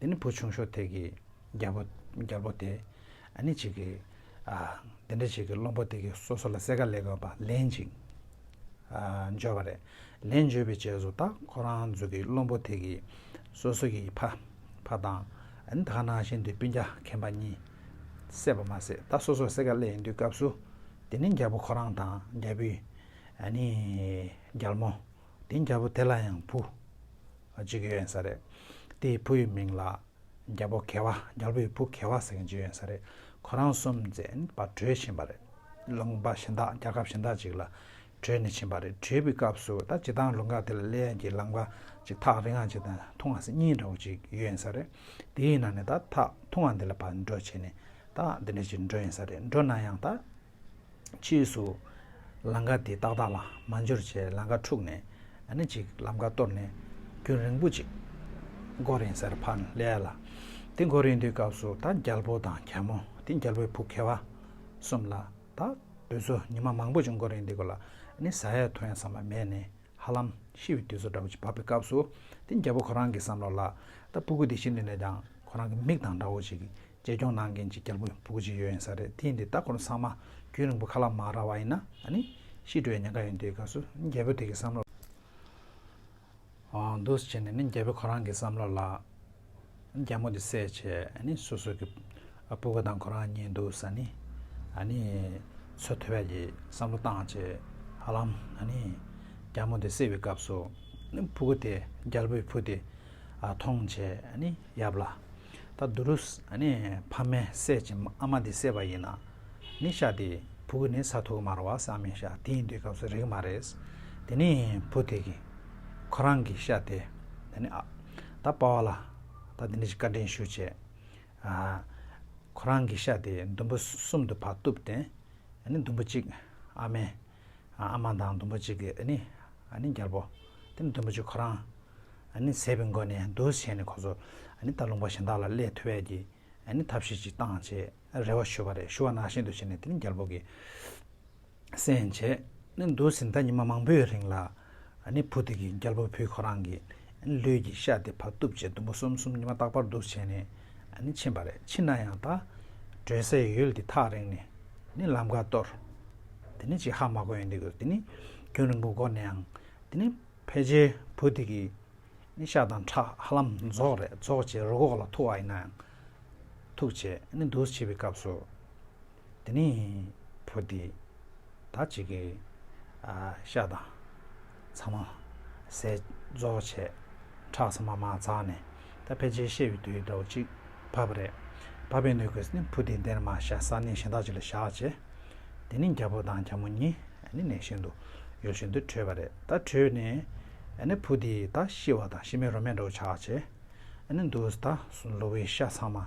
དེ་ནི་བུ་ཆུང་ཤོ་ཐེག་གི་རྒྱལ་པོ་རྒྱལ་པོ་དེ་ཨ་ནི་ཅིག་གིས། འདི་འདྲ་ཞིག་གི་བློན་པོ་དེ་གི་སོ་སོ་ལ་གསལ་ཁ་ལེ་དགོས་པ་ལེན་ཅིག། འབྱོར་བ་རེད། ལེན་འབྱོར་བའི་རྗེས་སུ་ད་ཁོ་རང་ཚོ་གི་བློན་པོ་དེ་གི་སོ་སོ་གི་ཕ་ཕ་དང་ཨ་ནི་དག་ནང་བཞིན་དུ་སྤུན་རྒྱ་ཁེན་པ་གཉིས་བསད་པ་མ་ཟད་ད་སོ་སོར་གསལ་ཁ་ལེ་ཡིན་དུས་སྐབས་སུ་དེ་ནི་རྒྱལ་པོ་ཁོ་རང་དང་རྒྱལ་པོའི་ཨ་ནི་རྒྱལ་མོ། དེ་རྒྱལ་པོ་དེ་ལ་ཡང་བུ་གཅིག་ཡོད་ཡིན་ས་རེད། དེའི་བུ་ཡི་མིང་ལ་རྒྱལ་པོ་གེ་བ་རྒྱལ་པོ་ཡི་བུ་གེ་བ་ཟེར་མཁན་ཅིག་ཡོད་ཡིན་ས་རེད། ཁོ་རང་སུམ་བཙན་པ་བྲོས་ཕྱིན་པ་རེད། ལུང་པ་གཞི་བདག་རྒྱལ་ཁབ་གཞི་བདག་ཅིག་ལ་བྲོས་ནས་ཕྱིན་པ་རེད། བྲོས་པའི་སྐབས་སུ་ད་ཇི་ལྟར་ལུང་ཁ་དེ་ལ་གླེ་ཡག་གི་ལང་པ་ཅིག་ཐག་རིང་ང་ཅིག་དང་ཐུང་ང་སེ་གཉིས་འདྲ་བོ་ཅིག་ཡོད་ཡིན་ས་རེད། དེའི་ནང་ནས་ད་ཐག་ཐུང་ང་འདི་ལ་བར་འགྲོ་བྱས་ནས་ད་འདི་འདྲ་ཅིག་འགྲོ་ཡིན་ས་རེད་འགྲོ་ན་ཡང་ད། ཕྱིས་སུ། ལང་ཀ་དེ་ཏག་ཏག་ལ་མ་འབྱོར་ཆེད་ལང་ཀ་འཁྲུགས་ནས་ཨ་ན་ཅིག་ལམ་ཁ་གཏོར་ནས་རྒྱུན་རིང་པོ་ཅིག་མགོ་རིང་སར་འཕངས་སླད་ལ། དེ་མགོ་རིང་དུས་སྐབས་སུ་ད་རྒྱལ་པོ་དང་གྱ་མོ་དེ་རྒྱལ་པོའི་བུ་གེ་བ་གསུམ་ལ་ད་དུས་ཚོད་ཉི་མ་མང་པོ་ཅིག་མགོ་རིང་དེ་གོ་ལ་ནི་ཟ་ཡ་འཐུང་ཡ་ཟ་མ་མེད་ནས་ཧ་ལམ་ཤི་བའི་དུས་ཚོད་འདྲ་བོ་ཅིག་བབས་པའི་སྐབས་སུ་དེ་རྒྱལ་པོ་ཁོ་རང་གི་བསམ་བློ་ལ་ད་སྤུ་གུ་དེ་ཤི་འདི་ནས་ཀྱང་ཁོ་རང་གི་མིག་དང་འདྲ་བོ་ཅིག་རྒྱལ་སྐྱོང་གནང་མཁན་གྱི་རྒྱལ་པོ་བུ་གུ་གཅིག་ཡོད་ཡིན་ས་རེད་དེ་འདི་ལྟ་ཁོར་ཚང་མ་རྒྱུན་རིང་པོ་ཁ་ལག་མ་ར་བ་ཡིན་ན་ནི་ཤི་འགྲོ་ཡ་ཉན་ཁ་ཡོད་འདི་སྐབས་སུ་རྒྱལ་པོ་དེ་གི་བསམ་བློ་འདུག་བྱས་ནས་ནི་རྒྱལ་པོ་ཁོ་རང་གི་བསམ་བློ་ལ་རྒྱ་མོ་དེ་བསད་བྱས་ནི་སོ་སོ་གི་བུ་གུ་དང་ཁོ་རང་གཉིས་འདུག་ས་ནི་ནི་ཚོད་ཐོས་པ་ཡི་བསམ་བློ་བཏང་བྱས་ཧ་ལམ་ནི་རྒྱ་མོ་དེ་བསད་པའི་སྐབས་སུ་བུ་གུ་དེ་རྒྱལ་པོའི་བུ་དེ་མཐོང་བྱས་ནི་ཡབ་ལ། ད་དུ་རུ། ཕ་མའི་སྲས་ཀྱི་ཨ་མ་འདི་སྲས་པ་ཡིན། ནི་ཤ་དེ། བུ་གི་ནི་ས་ཐུག་མར་བ་ས་མི་ཤ་དེ་ཡིན་དུས་སྐབས་སུ་རིག་མ་རེད། དེ་ནི་བུ་དེ་གི། ཁོ་རང་གི་ཤ་དེ། དེ་ནི་ཨ། ད་དཔའ་བ་ལ། ད་འདི་འདྲ་ཞིག་བཀའ་དྲིན་ཞུ་བྱས། ཁོ་རང་གི་ཤ་དེ་དུམ་བུ་གསུམ་དུ་བར་གཏུབས་ཏེ། ནི་དུམ་བུ་གཅིག། ཨ་མའི། ཨ་མ་དང་ལྡུམ་བུ་གཅིག་གི་ཨ་ནི་རྒྱལ་པོ། དེ་ནི་ལྡུམ་བུ་གཅིག་ཁོ་རང། ཨ་ནི་ཟས་པའི་མགོ་ནས་འདུག་བྱས་ནས་ཁོ་ཚོ་ཨ་ནི་ད་ལུང་པ་གཞན་དག་ལ་ཀླད་ཐུལ་བས་ཀྱི་ཨ་ནི་ཐབས་ཤེས་ཅིག་བཏང་བྱས་རེ་བ་ཞུ་བ་རེད་ཞུ་བ་ནག་ཤིན་ཏུ་བྱས་ནས་དེ་ནི་རྒྱལ་པོ་གི་སེམས་བྱས་ནས་འདུག་ཟིན་ད་ཉི་མ་མང་པོའི་རིང་ལ་ནི་བུ་དེ་གིས་རྒྱལ་པོ་བུ་ཁོ་རང་གི་ལུས་ཀྱི་ཤ་དེ་བག་བཏུབ་ཅེས་དུམ་བུ་གསུམ་གསུམ་ཉི་མ་རྟག་པར་འདུག་བྱས་ནས་ཕྱིན་པ་རེད་ཕྱིན་ན་ཡང་ད་གྲོལ་སའི་ཡུལ་དེ་ཐག་རིང་ནས་ནི་ལམ་ཁ་སྟོར། དེ་ནི་ཅི་ཧ་མ་གོ་ཡིན་འདི་གོ་དེ་ནི་ཁྱོད་རིང་པོ་གོ་ནའང་དེ་ནི་ཕལ་ཆེར་བུ་དེ་གིས་ནི་ཤ་དང་ཁྲག་ཧ་ལམ་རྫོགས་རེད་རྫོགས་བྱས་རུ་ཁོག་ལ་ཐུག་བ་ཡིན་ནའང་ཐུག་བྱས་ནི་འདུག་བྱས་པའི་སྐབས་སུ། དེ་ནི་བོ་དེ། ད་ཅི་གི། ཤ་དང། ཚང་མ། ཟས། རྫོགས་བྱས། ཁྲག་ཚང་མ་མ་འཛག་ནས། ད་ཕལ་ཆེར་བཤད་པའི་དུས་དྲོ་གཅིག། བབ་པ་རེད། བབ་པའི་སྣོད་ཀྱིས་ནི་བུ་དེ་འདིར་མ་བཞག་ས་གནས་གཞན་དག་ཅིག་ལ་བཞག་བྱས། དེ་ནི་རྒྱལ་པོ་དང་རྒྱལ་མོ་གཉིས། ནི་གནས་གཞན་དུ། ཡུལ་གཞན་དུ་བྲོས་པ་རེད། ད་བྲོས་ནས། ནི་བུ་དེ་ད་ཤི་བ་དང་ཤི་མའི་རོ་མེད་འགྲོ་བྱ་བྱས། ནི་འདུག། ད། ལོ་བའི་ཤ་ཚང་མ།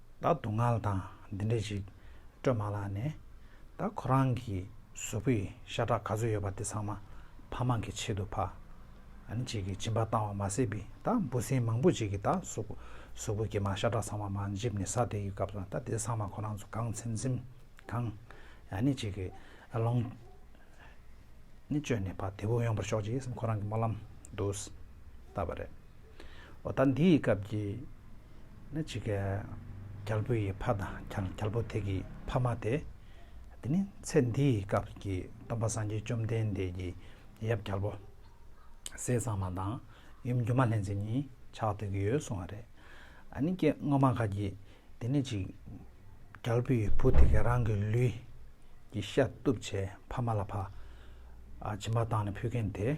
ད་སྡུག་བསྔལ་དང་འདི་འདྲ་ཞིག་སྤྲོད་མ་ལགས་ནས། ད་ཁོ་རང་གི་གཟུགས་པོའི་ཤ་ཁྲག་ག་ཚོད་ཡོད་པ་དེ་ཚང་མ་ཕ་མ་གི་ཆེད་དུ་ཕ། ཨན་ཅིག་གི་སྦྱིན་པ་བཏང་བ་མ་ཟད་པའི་ད་འབུ་སྲིན་མང་པོ་ཅིག་གི་ད་གཟུགས་པོ་ཀྱི་མ་ཤ་ཁྲག་ཚང་མ་མ་འཇིབ་ནས་ས་དེ་ཡི་སྐབས་སུ་ད་དེ་ཚང་མ་ཁོ་རང་ཚོ་གང་ཚིམ་ཚིམ་གང། ཨན་ཅིག་གི་ལོངས་སྤྱོད་ནས་ཕ་དེ་བུ་ཡོང་བར་ཤོག་ཅིག་སེམས་ཁོ་རང་གི་སྨོན་ལམ་དུ་བཏབ་པ་རེད། ཨོ་ད་འདི་ཡི་སྐབས་ཀྱི་ནི་ཅིག། རྒྱལ་པོ་ཡི་ཕ་དང་རྒྱལ་པོ་དེ་གི་ཕ་མ་སྟེ། འདི་ནི་ཚེ་འདི་ཡི་སྐབས་ཀྱི་སྟོན་པ་སངས་རྒྱས་བཅོམ་ལྡན་འདས་ཀྱི་ཡབ་རྒྱལ་པོ། ཟས་གཙང་མ་དང་ཡུམ་སྒྱུ་མ་ལྷན་ཅིག་གཉིས་ཕྱག་སྟོན་གྱི་ཡོད་གསུང་བ་རེད། ཨ་ནི་སྐད་ངོ་མ་ག་གི་འདི་ནི་ཅིག། རྒྱལ་པོ་ཡི་བུ་དེ་གས་རང་གི་ལུས་ཀྱི་ཤ་གཏུབ་བྱས་ཕ་མ་ལ་ཕ། བྱིན་པ་བཏང་ནས་ཕུལ་མཁན་དེ།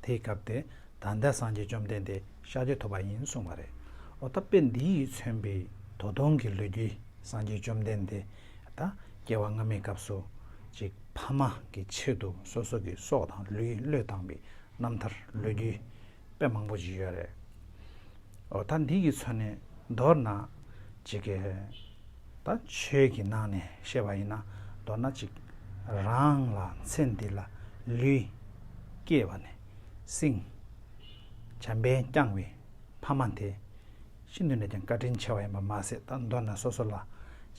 དེ་ཡི་སྐབས་དེ་ད་ལྟའི་སངས་རྒྱས་བཅོམ་ལྡན་འདས་ཤཱཀྱ་ཐུབ་པ་ཡིན་གསུངས་པ་རེད། ཨོ་ད་དཔེ་འདི་ཡིས་མཚོན་པའི་དོ་སྟོང་གི་ལོ་རྒྱུས་སངས་རྒྱས་བཅོམ་ལྡན་འདས་དང་སྐྱེ་བ་སྔ་མའི་སྐབས་སུ། གཅིག་ཕ་མ་གི་ཆེད་དུ་སོ་སོ་གི་སྲོག་དང་ལུས་བློས་བཏང་པའི་རྣམ་ཐར་ལོ་རྒྱུས་དཔེ་མང་པོ་ཞིག་ཡོད་རེད། ཨོ་ད་འདི་ཡིས་མཚོན་ནས་མདོར་ན། གཅིག། ད་ཆོས་ཀྱི་ནང་ནས་བཤད་པ་ཡིན་ན་མདོར་ན་གཅིག། རང་ལ་ཚེ་འདི་ལ་ལུས། སྐྱེས་པ་ནས། བསྲིང། བྱམས་པས་བསྐྱངས་བའི་ཕ་མ་དེ། ཤིན་ཏུ་ནས་ཀྱང་བཀའ་དྲིན་ཆེ་བ་ཡིན་པར་མ་ཟད་ད་མདོར་ན་སོ་སོ་ལ་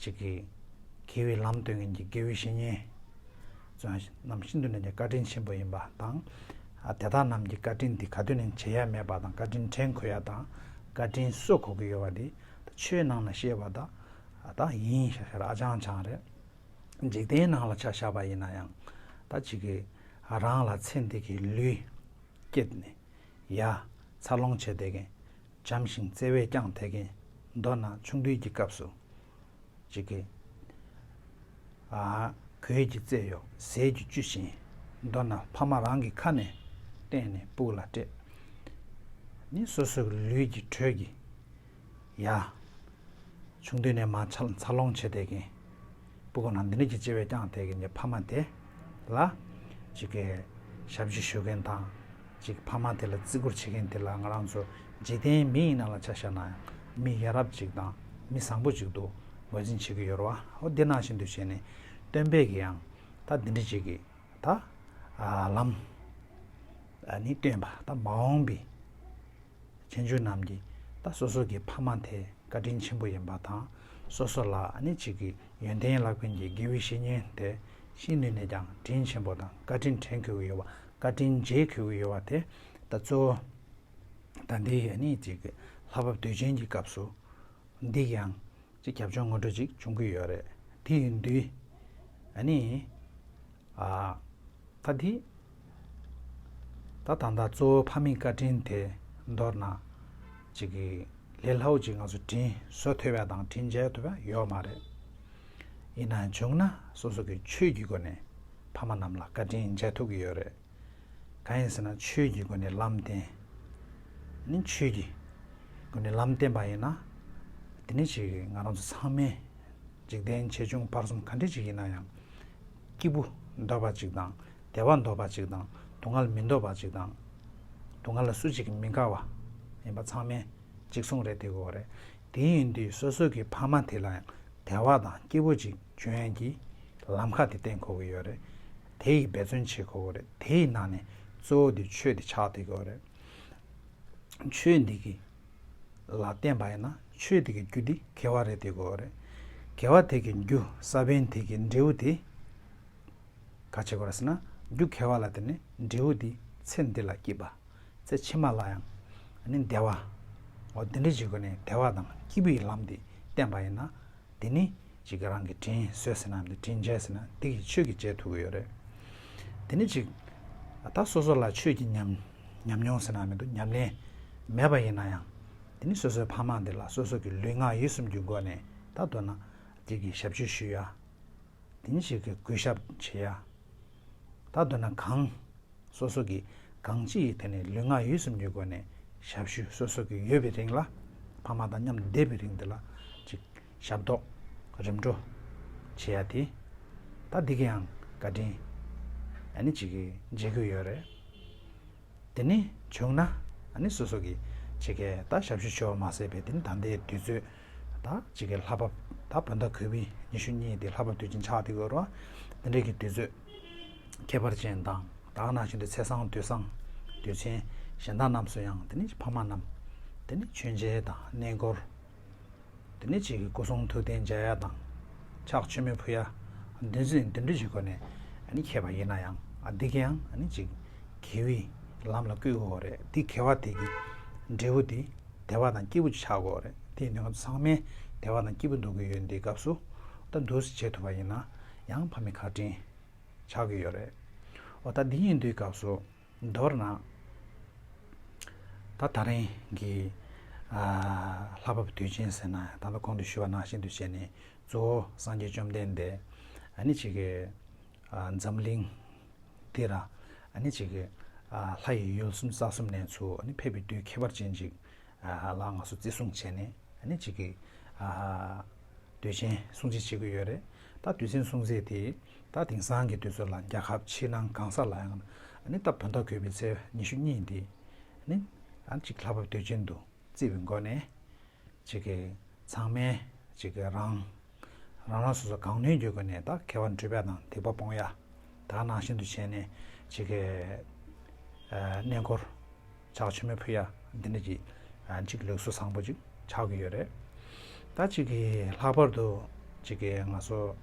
ཞིག་གིས་དགེ་བའི་ལམ་སྟོན་མཁན་གྱི་དགེ་བའི་བཤེས་གཉེན་རྣམས་ཤིན་ཏུ་ནས་ཀྱང་བཀའ་དྲིན་ཆེན་པོ་ཡིན་པ་དང། དེ་དག་རྣམས་ཀྱི་བཀའ་དྲིན་དེ་ག་དུས་ནས་བྱེད་ཡ་མེད་པ་དང་བཀའ་དྲིན་དྲན་དགོས་ཡ་དང་བཀའ་དྲིན་གསོས་གོ་གི་ཡོད་པ་དེ་ཆོས་ནང་ན་བཤད་པ་དག་ཡིན་ཧྲ་ཧྲ་རེད་ཨ་ཅང་ཅང་རེད། འཇིག་རྟེན་སྣང་ལ་ཆ་བཞག་པ་ཡིན་ན་ཡང་ད་ཅི་གི་རང་ལ་ཚེ་འདི་གི་ལུས། སྐྱེད་ནས་ཡ། འཚར་ལོངས་བྱས་བསྡད་གིན། འཇམ་ཞིང་བརྩེ་བས་བསྐྱངས་དེད་གིན། མདོར་ན་ཆུང་དུས་ཀྱི་སྐབས་སུ། ཅི་གི། གོས་ཀྱི་རྩེད་གཡོག་ཟས་ཀྱི་བཅུད་བཞིན། མདོར་ན་ཕ་མ་རང་གི་ཁ་ནས་བསྟན་ནས་སྤུག་ལ་སྤྲད། ནི་སོ་སོའི་ལུས་ཀྱི་དྲོད་ཀྱིས། ཡ། ཆུང་དུས་ནས་མ་འཚར་ལོངས་བྱས་དེ་གིན། སྤུ་གོང་ན་འདི་ནས་ཀྱི་བྱེ་བས་བསྐྱངས་དེ་གིན་གྱི་ཕ་མ་དེ། ལ། ཅིག་གི། ཞབས་ཕྱི་ཞུ་མཁན་དང། ཅིག་ཕ་མ་དེ་ལ་བརྩི་བཀུར་བྱེད་མཁན་དེ་ལ་ང་རང་ཚོ་འཇིག་རྟེན་མི་ཡིན་ན་ལ་ཆ་བཞག་ན་ཡང་མི་ཡ་རབས་ཅིག་དང་མི་བཟང་པོ་ཅིག་ཏུ་ངོས་འཛིན་བྱེད་ཀྱི་ཡོད་རོ་ཨོ་འདི་ནང་བཞིན་དུ་བྱས་ནས་སྟོན་པས་གི་ཡང་ད་འདི་འདྲི་བྱེད་ཀྱི་ད། ལམ། ནི་སྟོན་པ་ད་མ་འོངས་པའི། ཁྱོད་ཆོས་རྣམས་ཀྱི་ད་སོ་སོ་གི་ཕ་མ་དེ་བཀའ་དྲིན་ཆེན་པོ་ཡིན་པ་དང་སོ་སོ་ལ་ནི་ཅིག་གི་ཡོན་ཏན་བླ་དཔོན་གྱི་དགེ་བའི་བཤེས་གཉེན་དེ་ཤེས་ནུས་ནས་ཀྱང་དྲིན་ཆེན་པོ་དང་བཀའ་དྲིན་དྲན་གྱི་ཡོད་བ་བཀའ་དྲིན་མཇལ་གྱི་ཡོད་བ་དེ་ད་གཙོ་བོ་ད་འདི་ནི་ཅིག་གི་ལྷ་བབ་དུས་ཆེན་གྱི་སྐབས་སུ་འདི་ཡང་ཅིག་རྒྱབ་ལྗོངས་ངོ་སྤྲོད་ཅིག་བྱུང་གི་ཡོད་རེད་དེ་ཡིན་དུས་ནི་ད་འདི། ད་ད་ལྟ་གཙོ་བོའི་ཕ་མེས་བཀའ་དྲིན་དེ་མདོར་ན། ཅིག་གིས་ལས་སླ་བོ་ཅིག་ང་ཚོ་དྲིན་གཟོ་ཐུབ་པ་དང་དྲིན་འཇལ་ཐུབ་པ་ཡོད་མ་རེད། ཡིན་ན་བྱུང་ན་སོ་སོ་གི་ཆོས་ཀྱི་སྒོ་ནས་ཕ་མ་རྣམས་ལ་བཀའ་དྲིན་འཇལ་ཐུབ་ཀྱི་ཡོད་རེད། གང་ཡིན་ཟེར་ན་ཆོས་ཀྱི་སྒོ་ནས་ལམ་བསྟན། ནི་ཆོས་ཀྱི་སྒོ་ནས་ལམ་བསྟན་པ་ཡིན་ན། དེ་ནི་ཅིག་ང་རང་ཚོ་ཚང་མས་འཇིག་རྟེན་ཆེ་ཆུང་བར་གསུམ་ག་འདྲི་ཅིག་ཡིན་ན་ཡང། སྐྱིད་པོ་འདོད་པ་ཅིག་དང་བདེ་བ་འདོད་པ་ཅིག་དང་སྡུག་བསྔལ་མི་འདོད་པ་ཅིག་དང། སྡུག་བསྔལ་ལ་སུ་གཅིག་གིས་མི་དགའ་བ་ཡིན་པ་ཚང་མས་གཅིག་མཚུངས་རེད་དེ་གོ་རེད། དེ་ཡིན་དུས་སོ་སོ་གི་ཕ་མ་དེ་ལ་ཡང་བདེ་བ་དང་སྐྱིད་པོ་ཅིག་བྱོས་ཡན་གྱི་ལམ་ཁ་དེ་བསྟན་དགོས་ཀྱི་ཡོད་རེད། དེ་ཡི་འབད་བརྩོན་བྱེད་དགོས་ཀྱི་རེད་དེ་ཡི་ནང་ནས་གཙོ་བོ་དེ་ཆོས་དེ་ཆགས་དེ་གོ་རེད། ཆོས་འདི་གི། ལ་བརྟེན་པ་ཡིན་ན་ཆོས་དེ་གི་རྒྱུ་དེ་གལ་བ་རེད་དེ་གོ་རེད། གལ་བ་དེ་གི་རྒྱུ་ས་བོན་དེ་གི་འབྲས་བུ་དེ། ག་བྱེད་གོ་ར་ཟེར་ན་རྒྱུ་གལ་བ་ལ་བརྟེན་ནས་འབྲས་བུ་དེ་ཚེ་འདི་ལ་སྐྱིད་པ། ཚེ་ཕྱི་མ་ལ་ཡང་ནི་བདེ་བ། འོ་དེ་འདྲ་བྱེད་དགོས་ནས་བདེ་བ་དང་སྐྱིད་པོའི་ལམ་དེ་བསྟན་པ་ཡིན་ན། དེ་ནི་ཅིག་རང་གི་དྲིན་གཟོས་ཟེར་ན་འདི་དྲིན་འཇལ་ཟེར་ན་འདི་གི་ཆོས་ཀྱི་འཇལ་ཐུབ་ཀྱི་ཡོད་རེད། དེ་ནི་ཅིག། ད་སོ་སོ་ལ་ཆོས་ཀྱི་ཉམས། ཉམས་མྱོང་ཟེར་ན་མི་འདུག་ཉམས་ལེན་མེད་པ་ཡིན་ན་ཡང། འདི་ནི་སོ་སོའི་ཕ་མ་འདི་ལ་སོ་སོ་གི་ལུས་ངག་ཡིད་གསུམ་གྱི་སྒོ་ནས་ད་གདོད་ན་འདི་གི་ཞབས་ཕྱི་ཞུ་ཡ། འདི་ནི་ཞིག་གི་གུས་ཞབས་བྱེད་ཡ། ད་གདོད་ན་གང། སོ་སོ་གི་གང་ཅི་ཡི་ཐད་ནས་ལུས་ངག་ཡིད་གསུམ་གྱི་སྒོ་ནས་ཞབས་ཞུ་སོ་སོ་གི་ཡོད་པའི་རིང་ལ་ཕ་མ་དང་མཉམ་དུ་བསྡད་པའི་རིང་འདི་ལ་ཅིག། ཞབས་ཏོག། རིམ་གྲོ། བྱེད་ཡ་དེ། ད་འདི་གིའང་བཀའ་དྲིན། ཨ་ནི་ཅིག་མཇལ་དགོས་ཡོད་རེད། དེ་ནི་བྱུང་ན་ཨ་ནི་སོ་སོ་གི་ཕྱེད་ཀའི་ད་ཞབས་ཞུ་ཆོ་མ་བསད་པའི་དེ་ནི་ད་ཟླའི་དུས་ཚོད་ད་ཕྱེད་ཀའི་ལྷ་བབ་ད་བོད་ཟླ་གོས་བི་ཉི་ཤུ་གཉིས་དེ་ལྷ་བབ་དུས་ཆེན་ཆགས་དེ་གོས་རོ་དེ་འདྲའི་གི་དུས་ཚོད་ཁྱད་པར་ཅན་དང་དག་ན་ཞིང་དུ་ཚེས་བཟང་དུས་བཟང་དུས་ཆེན་གཞན་དག་རྣམས་སུ་ཡང་དེ་ནི་ཕ་མ་རྣམས་དེ་ནི་མཆོད་མཇལ་དང་གནས་སྐོར་དེ་ནས་བྱེས་ཀྱི་སྐུ་གསུང་ཐུགས་རྟེན་འཇའ་ཡ་དང། ཕྱག་ཆེན་མོའི་བུ་ཡ། འདུལ་འཛིན་འདུལ་འགྲུབ་ཀྱི་སྒོ་ནས་མཁས་པ་ཡིན་ན་ཡང་འདི་གའི་ཡང་ཅིག་གེ་བི་ལམ་ལ་བསྐུལ་དགོས་རེད་དེ་གེ་བ་དེ་གི་འབྲས་བུ་དེ་དེ་བ་དང་སྐྱེས་བུ་ཆགས་དགོས་རེད་དེ་ནི་ཚང་མའི་དེ་བ་དང་སྐྱེས་བུ་འདུག་གི་ཡོད་འདི་སྐབས་སུ་ད་འདུལ་བྱེད་ཐུབ་པ་ཡིན་ན་ཡང་ཕ་མའི་ཁ་དྲིན་ཆགས་ཀྱི་ཡོད་རེད་འོ་ད་འདི་གཉིས་འདུལ་སྐབས་སུ། མདོར་ན། ད་ད་རིང་གི་ལྷ་བབས་དུས་ཆེན་ཟེར་ན་ད་ལྟ་གོང་དུ་ཞུས་པ་ནང་བཞིན་དུ་བྱས་ནས་གཙོ་བོ་སངས་རྒྱས་བཅོམ་ལྡན་འདས་ནི་ཆེ་གེ་འཛམ་གླིང་འདི་ར་ནི་ཆེ་གེ་ལྷ་ཡི་ཡུལ་གསུམ་རྩ་གསུམ་ནས་ཚུར་ནི་ཕེབས་པའི་དུས་ཁྱད་པར་ཅན་ཅིག་ལ་ང་ཚོ་བརྩི་སྲུང་བྱས་ནས་ནི་ཆེ་གེ་དུས་ཆེན་སྲུང་བརྩི་བྱེད་དགོས་ཡོད་རེད་ད་དུས་ཆེན་སྲུང་བརྩི་དེ། ད་དེང་སང་གི་དུས་ཚོད་ལ་རྒྱལ་ཁབ་ཕྱི་ནང་གང་ས་ལའང་ནི་ད་བོད་ཟླ་གོས་པའི་ཚེས་ཉི་ཤུ་གཉིས་འདི་ནི་གཅིག་ལྷ་བབས་དུས་ཆེན་དུ་བརྩི་བའི་སྒོ་ནས་ཅིག་གི་ཚང་མས་ཅིག་གི་རང་རང་སོ་སོ་གང་ནུས་ཀྱི་སྒོ་ནས་ད་ཁ་བ་འབྲུ་བད་དང་ཐིགས་པ་སྤོང་ཡ་དག་ནང་བཞིན་དུ་བྱས་ནས་ཅིག་གི་གནས་སྐོར། ཕྱག་ཆེན་མོའི་བུ་ཡ། འདི་འདྲ་གྱི། གཅིག་ལེགས་གསོ་བཟང་པོ་གཅིག་ཆགས་ཀྱི་ཡོད་རེད། ད་གཅིག་གིས་ལྷག་པར་དུ། གཅིག་གིས་ང་སོ།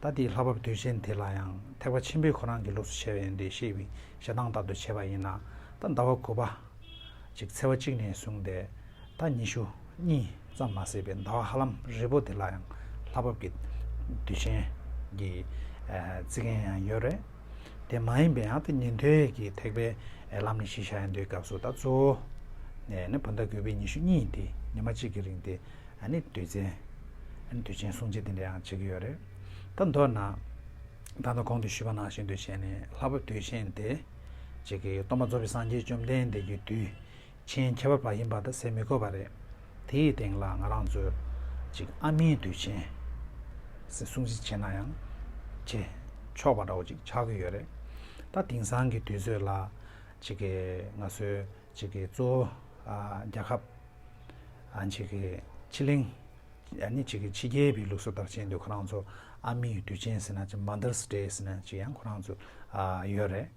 ད་དེའི་ལྷག་པར་དུས་ཆེན་དེ་ལ་ཡང་ཐེག་པ་ཆེན་པོའི་ཁོ་རང་གི་ལུགས་སུ་བྱས་པ་ཡིན་ཏེ་ཤེས་པའི་ཞེ་སྡང་ལྟར་དུ་བྱས་པ་ཡིན་ན། ད་ཟླ་བ་དགུ་པ། གཅིག་འཚེ་བ་གཅིག་ནས་བཟུང་སྟེ། ད་ཉི་ཤུ། གཉིས། ཙམ་མ་ཟད་པའི་ཟླ་བ་ཧ་ལམ་རིལ་པོ་དེ་ལ་ཡང་ལྷག་པར་གྱི། དུས་ཆེན། གྱི། བརྩི་མཁན་ཡང་ཡོད་རེད། དེ་མ་ཡིན་པའི་ཡང་དེ་ཉན་ཐོས་ཀྱི་ཐེག་པའི་ལམ་ནས་གཞི་བཞག་ཡང་དེའི་སྐབས་སུ་ད་གཙོ་བོ་ནས་ནི་བུ་ཟླ་དགུ་པའི་ཉི་ཤུ་གཉིས་དེ་ཉི་མ་གཅིག་གི་རིང་དེ་ནི་དུས་མཚན་དུས་ཆེན་སྲུང་བྱེད་དེ་འདྲ་ཡང་བྱེད་ཀྱི་ཡོད་རེད་ད་མདོར་ན། ད་ལྟ་གོང་དུ་ཞུས་པ་ནང་བཞིན་དུ་བྱས་ནས་ལྷ་བབས་དུས་ཆེན་དེ་གཅིག་གིས་སྟོང་པ་རྫོགས་པའི་སངས་རྒྱས་བཅོམ་ལྡན་འདས་ཀྱི་དུས་ཆེན་ཁྱད་པར་བ་ཡིན་པ་དང་ཟེར་མི་དགོས་པ་རེད། དེ་ཡི་སྟེང་ལ་ང་རང་ཚོས་ཅིག་ཨ་མིའི་དུས་ཆེན། ཟེར་སྲུང་བརྩི་བྱས་ན་ཡང། བྱེད། ཆོག་པ་འདྲ་བོ་ཅིག་ཆགས་ཀྱི་ཡོད་རེད། ད་དེང་སང་གི་དུས་ཚོད་ལ། ཅིག་གི་ང་ཚོའི་ཅིག་གི་གཙོ་བོ། རྒྱལ་ཁབ། ཅིག་གི་ཕྱི་གླིང། ནི་ཅིག་གི་ཕྱི་རྒྱལ་བའི་ལུགས་སྲོལ་ལྟར་བྱས་འདུག་ཁོ་རང་ཚོ་ཨ་མིའི་དུས་ཆེན་ཟེར་ན་ཅིག Mother's Day ཟེར་ན་ཅིག་ཡང་ཁོ་རང་ཚོ། ཡོད་རེད།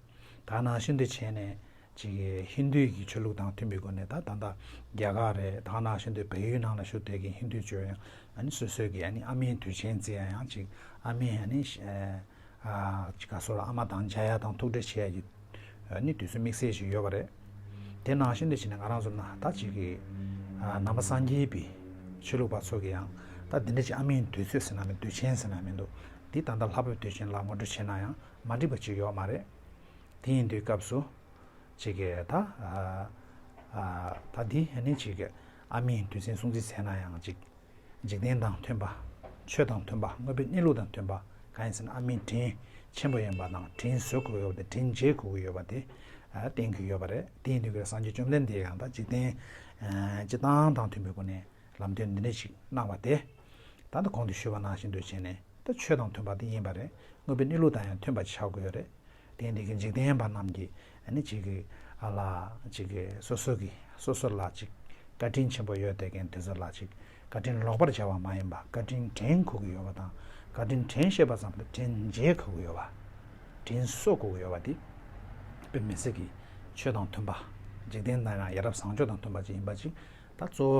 ད་ནང་བཞིན་དུ་བྱས་ནས་ཅིག་ཧིན་དུའི་གི་ཆོས་ལུགས་དང་མཐུན་པའི་སྒོ་ནས་ད་ད་རྒྱ་གར་རེད་ད་ནང་བཞིན་དུ་བལ་ཡུལ་ནང་ལ་བཞུགས་དེ་གི་ཧིན་དུའི་ཆོས་ཡང་ཨཱ་ནི་སོ་སོའི་གི་ཨཱ་ནི་ཨ་མའི་དུས་ཆེན་རྩི་ཡ་ཡང་ཅིག་ཨ་མའི་ཨཱ་ནི་ཅིག་ག་སོ་ལ་ཨ་མ་དང་མཇལ་ཡ་དང་ཐུག་འཕྲད་བྱེད་ཡ་གི་ཨཱ་ནི་དུས་ཚོད་དམིགས་བསལ་ཅིག་ཡོད་པ་རེད། དེ་ནང་བཞིན་དུ་བྱས་ནས་ང་རང་ཚོ་ན་ད་ཅིག་གི་ནང་པ་སངས་རྒྱས་པའི་ཆོས་ལུགས་པ་ཚོ་གི་ཡང་ད་འདི་འདྲ་ཅིག་ཨ་མའི་དུས་ཚོད་ཟེར་ན་མེད་དུས་ཆེན་ཟེར་ན་མེད་འདུག་འདི་ད་ད་ལྷ་བབས་དུས་ཆེན་ལ་ངོ་སྤྲོད་བྱས་ན་ཡང། མ་འགྲིག་པ་ཅིག་ཡོད་མ་རེད། དེ་ཡིན་དུས་སྐབས་སུ། ཅིག་ད། ད་འདི་ནི་ཅིག་ཨ་མའི་དུས་ཆེན་སྲུང་བརྩི་བྱས་ན་ཡང་ཅིག། འཇིག་རྟེན་དང་མཐུན་པ། ཆོས་དང་མཐུན་པ་དངོས་པོའི་གནས་ལུགས་དང་མཐུན་པ་གང་ཡིན་ཟེར་ན་ཨ་མའི་དྲིན་ཆེན་པོ་ཡིན་པ་དང་དྲིན་གཟོ་དགོས་ཡོད་པ་དེ་དྲིན་འཇལ་དགོས་ཀྱི་ཡོད་པ་དེ་བསྟན་གྱི་ཡོད་པ་རེད། དེ་ཡིན་དུས་སྐབས་སངས་རྒྱས་བཅོམ་ལྡན་འདས་ཡང་དག་འཇིག་རྟེན་སྤྱི་དང་དང་མཐུན་པའི་སྒོ་ནས་ལམ་སྟོན་འདི་འདྲ་ཞིག་གནང་བ་དེ། ད་ལྟ་གོང་དུ་ཞུས་པ་ནང་བཞིན་འདུ་བྱེད་ནས་ད་ཆོས་དང་མཐུན་པ་དེ་ཡིན་པ་རེད་དངོས་པོའི་གནས་ལུགས་དང་ཡང་མཐུན་པ་ཆགས་དགོས་རེད་དེ་ཡིན་དེ་གིས་འཇིག་རྟེན་པ་རྣམས་ཀྱིས་ནི་གཅིག་གིས་ཨ་ལ་གཅིག་གིས་སོ་སོ་གིས་སོ་སོ་ལ་གཅིག་བཀའ་དྲིན་ཆེན་པོ་ཡོད་དེ་གན་དེ་ཚོ་ལ་གཅིག་བཀའ་དྲིན་ལོག་པར་བྱ་བ་མ་ཡིན་པ་བཀའ་དྲིན་དྲན་ཁོ་གི་ཡོད་པ་དང་བཀའ་དྲིན་དྲན་ཤེས་པ་ཙམ་དུ་དྲིན་འཇལ་ཁོ་གི་ཡོད་པ་དྲིན་གསོ་ཁོ་གི་ཡོད་པ་དེ་དཔེ་མི་སྲིད་གི་ཆོས་དང་མཐུན་པ་འཇིག་རྟེན་དང་ཡང་ཡ་རབས་བཟང་སྤྱོད་དང་མཐུན་པ་ཅིག་ཡིན་པ་ཅིག་ད་གཙོ་བོ